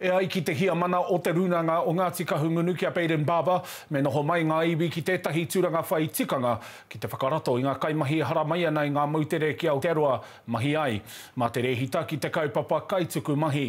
E ai ki te Heamana o Te Rūnanga o Ngāti Kahungunu ki a Baden Barber, me noho mai ngā iwi ki tētahi tūranga whai tikanga ki te whakarato i ngā kaimahi e hara mai ana i ngā moutere ki Aotearoa mahi ai. Mā te rēhita ki te kaupapa kaituku mahi.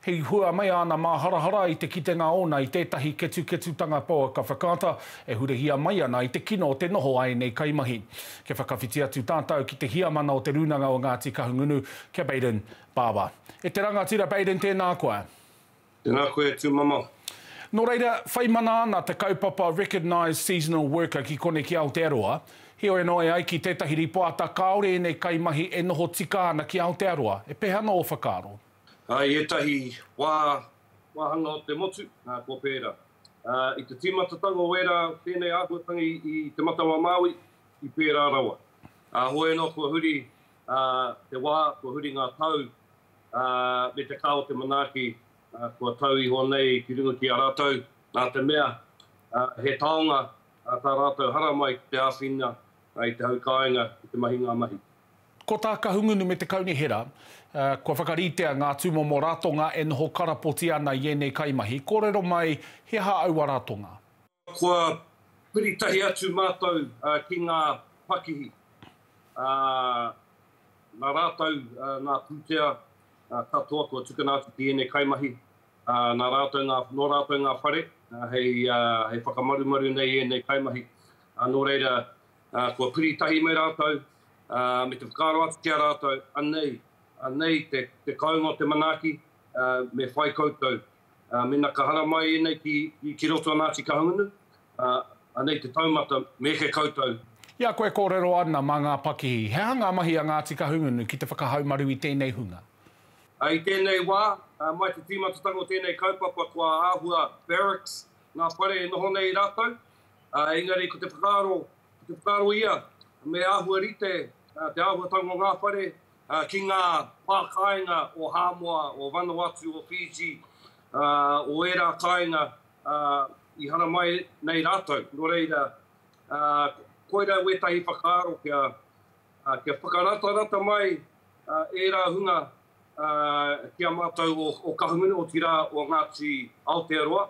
He hua mai āna māharahara i te kitenga ōna i tētahi ketuketutanga pouaka whakaata e hurihia mai ana i te kino o te noho a ēnei kaimahi. Kia whakawhiti atu tātau ki te Heamana o Te Rūnanga o Ngāti Kahungunu ki a Baden Pāpā. E te rangatira Baden tēnā koa. Tēnā koe tū mama. Nō reira, whai mana ana te kaupapa Recognised Seasonal Worker ki kone ki Aotearoa, heoi anō e ai ki tētahi rīpoata kāore ēnei kaimahi e noho tika ana ki Aotearoa, e pēha ana ō whakaaro? I ētahi wā, wāhanga o te motu, kua pērā. I te tīmatatanga o ērā o tēnei āhuatanga i Te Matau-a-Māui, i pērā rawa. Heoi anō, kua huri te wā, kua huri ngā tau, ā, me te kā o te manaaki, ā, kua tau iho nei ki runga ki a rātou, nā te mea, ā, he taonga, ā, tā rātou haramai ki te āwhina, ā, i te hau kāinga, i te mahi ngā mahi. Ko tā Kahungunu me te Kaunihera, ā, kua whakaritea ngā tūmomo ratonga e noho karapoti ana i ēnei kaimahi, kōrero mai he aha aua ratonga. Kua piri tahi atu mātou ki ngā pakihi, nā rātou ngā pūtea katoa kua tukuna atu ki ēnei kaimahi, nā rātou ngā, nō rātou ngā whare hei whakamarumaru nei i ēnei kaimahi. Nō reira, kua piri tahi me rātou, me te whakaaro atu ki a rātou, anei, anei te kounga o te manaaki, me whai koutou. ā, mēnā ka haramai ēnei ki, ki roto a Ngāti Kahungunu, ā, anei te taumata, me eke koutou. I a koe kōrero ana mā ngā pakihi, he aha ngā mahi a Ngāti Kahungunu ki te whakahaumaru i tēnei hunga? I tēnei wā, mai te tīmatatanga o tēnei kaupapa kua āhua barracks ngā whare e noho nei rātou, ā, engari ko te whakaaro, ko te whakaaro ia me āhua rite te āhuatanga o ngā whare ki ngā pā kāinga o Hāmoa, o Vanuatu, o Fiji, o ērā kāinga i haramai nei rātou. Nō reira, koirā wētahi whakaaro kia whakaratarata mai ērā hunga ki a mātou o Kahungunu, otirā o Ngāti Aotearoa,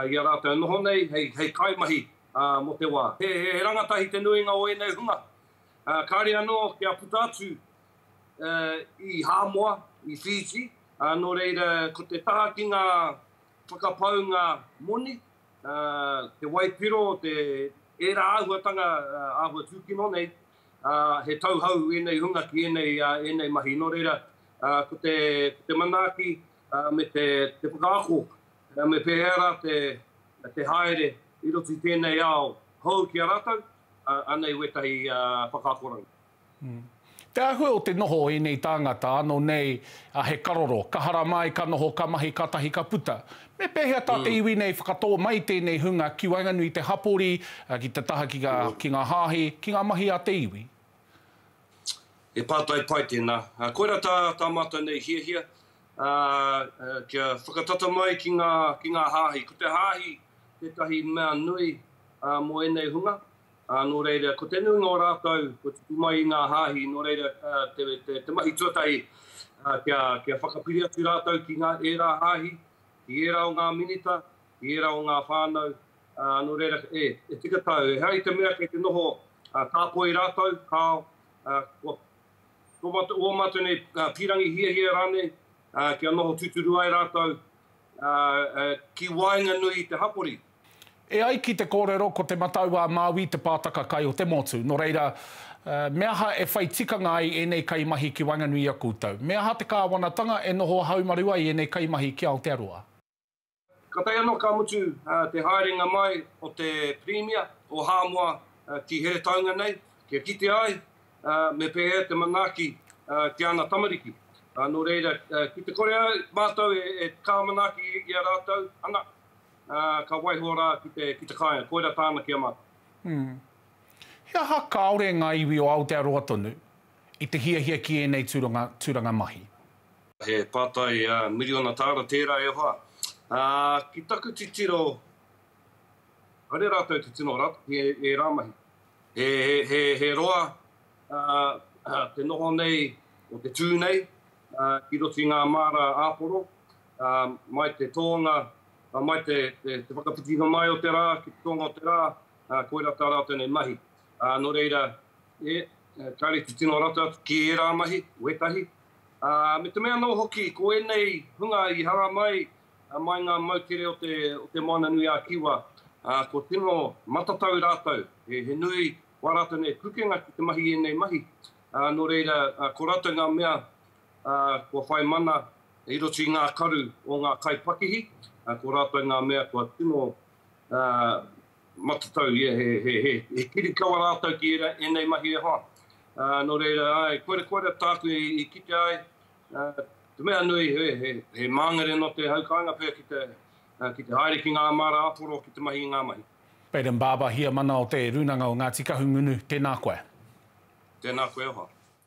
i a rātou noho nei hei kaimahi mō te wā. He rangatahi te nuinga o ēnei hunga, Kāre anō kia puta atu i Hāmoa, i Fiji, nō reira ko te taha ki ngā whakapaunga moni, te waipiro, ērā āhuatanga āhua tūkino nei, he tauhou ēnei hunga ki ēnei mahi. Nō reira, ko te manaaki me te whakaako Nā, me pēhea rā te haere i roto i tēnei ao hou ki a rātou? Anei wētahi whakaakoranga. Te āhua o te noho o ēnei tāngata, āno nei he karoro, ka harama ai, ka noho, ka mahi, kātahi ka puta. Me pēhea tā te iwi nei whakatō mai tēnei hunga ki waenganui i te hapori, ki te taha ki ngā hāhi, ki ngā mahi a te iwi? He pātai pai tēnā. Koirā tā mātou nei hiahia, kia whakatata mai ki ngā hāhi. Ko te hāhi tētahi mea nui mō ēnei hunga, nō reira, ko te nuinga o rātou kua tupu mai i ngā hāhi, nō reira, te mahi tuatahi kia whakapiri atu rātou ki ngā ērā hāhi, ki ērā o ngā minita, ki ērā o ngā whānau, nō reira, e tika tau, ehara i te mea kei te noho tāpoi rātou, kāo, kua. Ko mātou, ō mātou nei pīrangi hiahia rānei kia noho tūturu ai rātou ki waenganui i te hapori. E ai ki te kōrero ko Te Matau-a-Māui te pātaka kai o te motu, nō reira, me aha e whai tikanga ai ēnei kaimahi ki waenganui i a koutou? Me aha te kāwanatanga e noho haumaru ai ēnei kaimahi ki Aotearoa? Ka tae anō ka mutu te haerenga mai o te Pirimia o Hāmoa ki Heretaunga nei, kia kitea ai me pēhea te manaaki ki ana tamariki. Nō reira, ki te kore ai mātou e kā manaaki i a rātou, ana, ka waiho rā ki te kāinga, koirā tāna ki a mātou. He aha kāore ngā iwi o Aotearoa tonu i te hiahia ki ēnei tūranga mahi? He pātai miriona tāra tērā e hoa. Ā, ki taku titiro, haere rātou te tino rautaki i ērā mahi. He, he, he roa te noho nei o te tū nei ki roto i ngā māra āporo, mai te tōnga, mai te, te, te whakawhitinga mai o te rā ki te tōnga o te rā, koirā tā rātou nei mahi. Nō reira, e, kāre te tino rautaki i ērā mahi, wētahi, ā, me te mea anō hoki, ko ēnei hunga i haramai mai ngā moutere o te, o te Moana nui ā Kiwa, ā, kua tino matatau rātou, he, he nui wā rātou nei pukenga ki te mahi i ēnei mahi, ā, nō reira, ā, ko rātou ngā mea, ā, kua whai mana i roto i ngā karu o ngā kaipakihi, ā, ko rātou ngā mea kua tino, ā, Matatau, ia he kirikawa rātou ki ēnei mahi e hoa. Nō reira, āe, koira tāku i kitea ai, te mea nui, he māngere nō te hau kāinga pea ki te haere ki ngā māra āporo ki te mahi i ngā mahi. Baden Barber, Heamana o Te Rūnanga o Ngāti Kahungunu, tēnā koe. Tēnā koe e hoa.